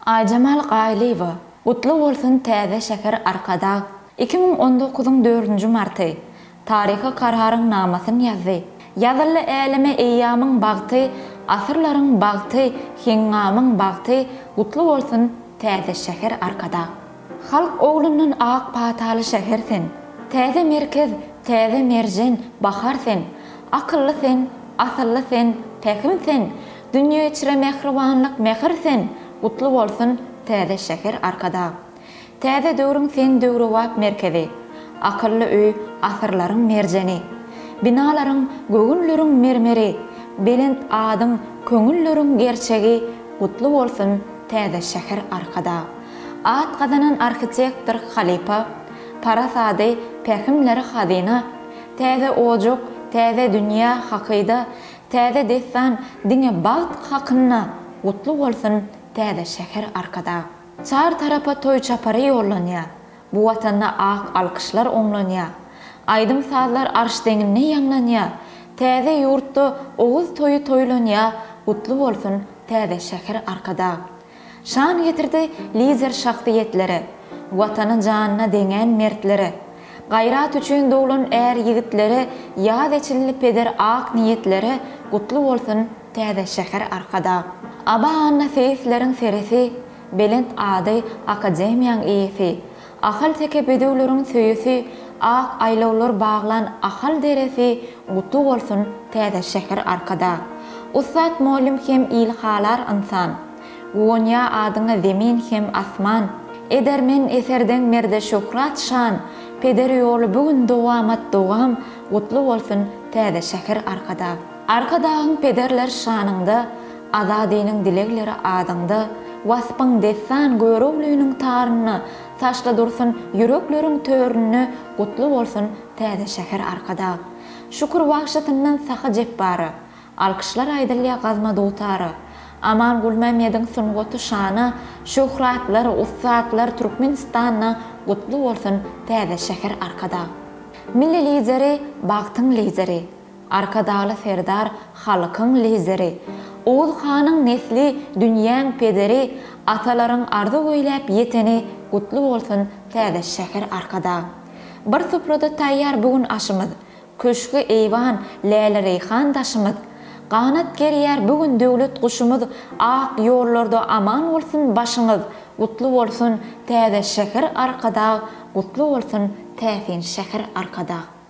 Aýjemal Gaýlyýewa, Gutly bolsun täze şäher Arkadag iki müň on dokuzyň dördünji marty, Taryhy kararyň namasyn ýazdy, Ýazyldy äleme eýýamyň bagty, Asyrlaryň bagty, Heňňamyň bagty, Gutly bolsun täze şäher Arkadag. Halk oglundan ak pataly şäher sen, Täze merkez, täze merjen, bahar sen, Akylly sen, asylly sen, pähim sen, Dünýe içre mähribanlyk mähir sen, Gutly bolsun täze şäher Arkadag. Täze döwrüň sen döwrebap merkezi, Akylly öý asyrlaryň merjeni. Binalaryň göwünleriň mermeri, Belent adyň köňülleriň gerçegi, Gutly bolsun täze şäher Arkadag. At gazanan arhitektor halypa, Parasady, pähimleri hazyna. Täze ojak, täze dünýä hakyda, Täze dessan diňe bagt hakynda gutly bolsun täze şäher arkadag. Çar tarapa toý çapary ýollanýa, bu watanda ak alkyşlar oňlanýa. Aýdym sazlar arş deňinde ýaňlanýa, täze ýurtda oguz toýy toýlanýa gutly bolsun täze şäher arkadag. Şan getirdi lider şahsyýetlere, Watany janyna deňän mertlere, Gaýrat üçin doglan är ýigitlere, Ýaz eçildi peder ak niýetlere, Gutly bolsun täze şäher Arkadag. Aba Annaseýisleriň seresi, Belent ady akademiýaň eýesi, Ahalteke bedewleriň söýesi Ak aýlawlar baglan Ahal deresi Gutly bolsun täze şäher Arkadag Ussat mollym hem il halar ynsan Guwanýa adyňa zemin hem asman Edermen eserdeň merde şöhrat şan Peder ýoly bu gün dowamat dowam Gutly bolsun täze şäher Arkadag. Arkadagyň pederler şanyňda, Azadynyň dilegleri adyňda, Waspyň dessan Göroglynyň tarynda Taşda dursun ýürekleriň töründe Gutly bolsun täze şäher Arkadag! Şükür wagşysyndan Sahy Jepbara, Alkyşlar aýdylýa Gazma dutara, Aman Gulmämmediň sungaty şana, Şöhratlar, ussatlar Türkmenistanda Gutly bolsun täze şäher Arkadag! Milli Lideri, bagtyň lideri, Arkadagly Serdar halkyň lideri, Oguz hanyň nesli dünýäň pederi atalaryň arzuw eýläp ýeteni gutly bolsun täze şäher Arkadag. Bir suprada taýýar bu gün aşymyz, Köşgi eýwan, läle-reýhan daşymyz. Ganat gerýär bu gün döwlet guşumyz Ak ýollarda aman bolsun başyňyz Gutly bolsun täze şäher Arkadag Gutly bolsun täsin şäher Arkadag.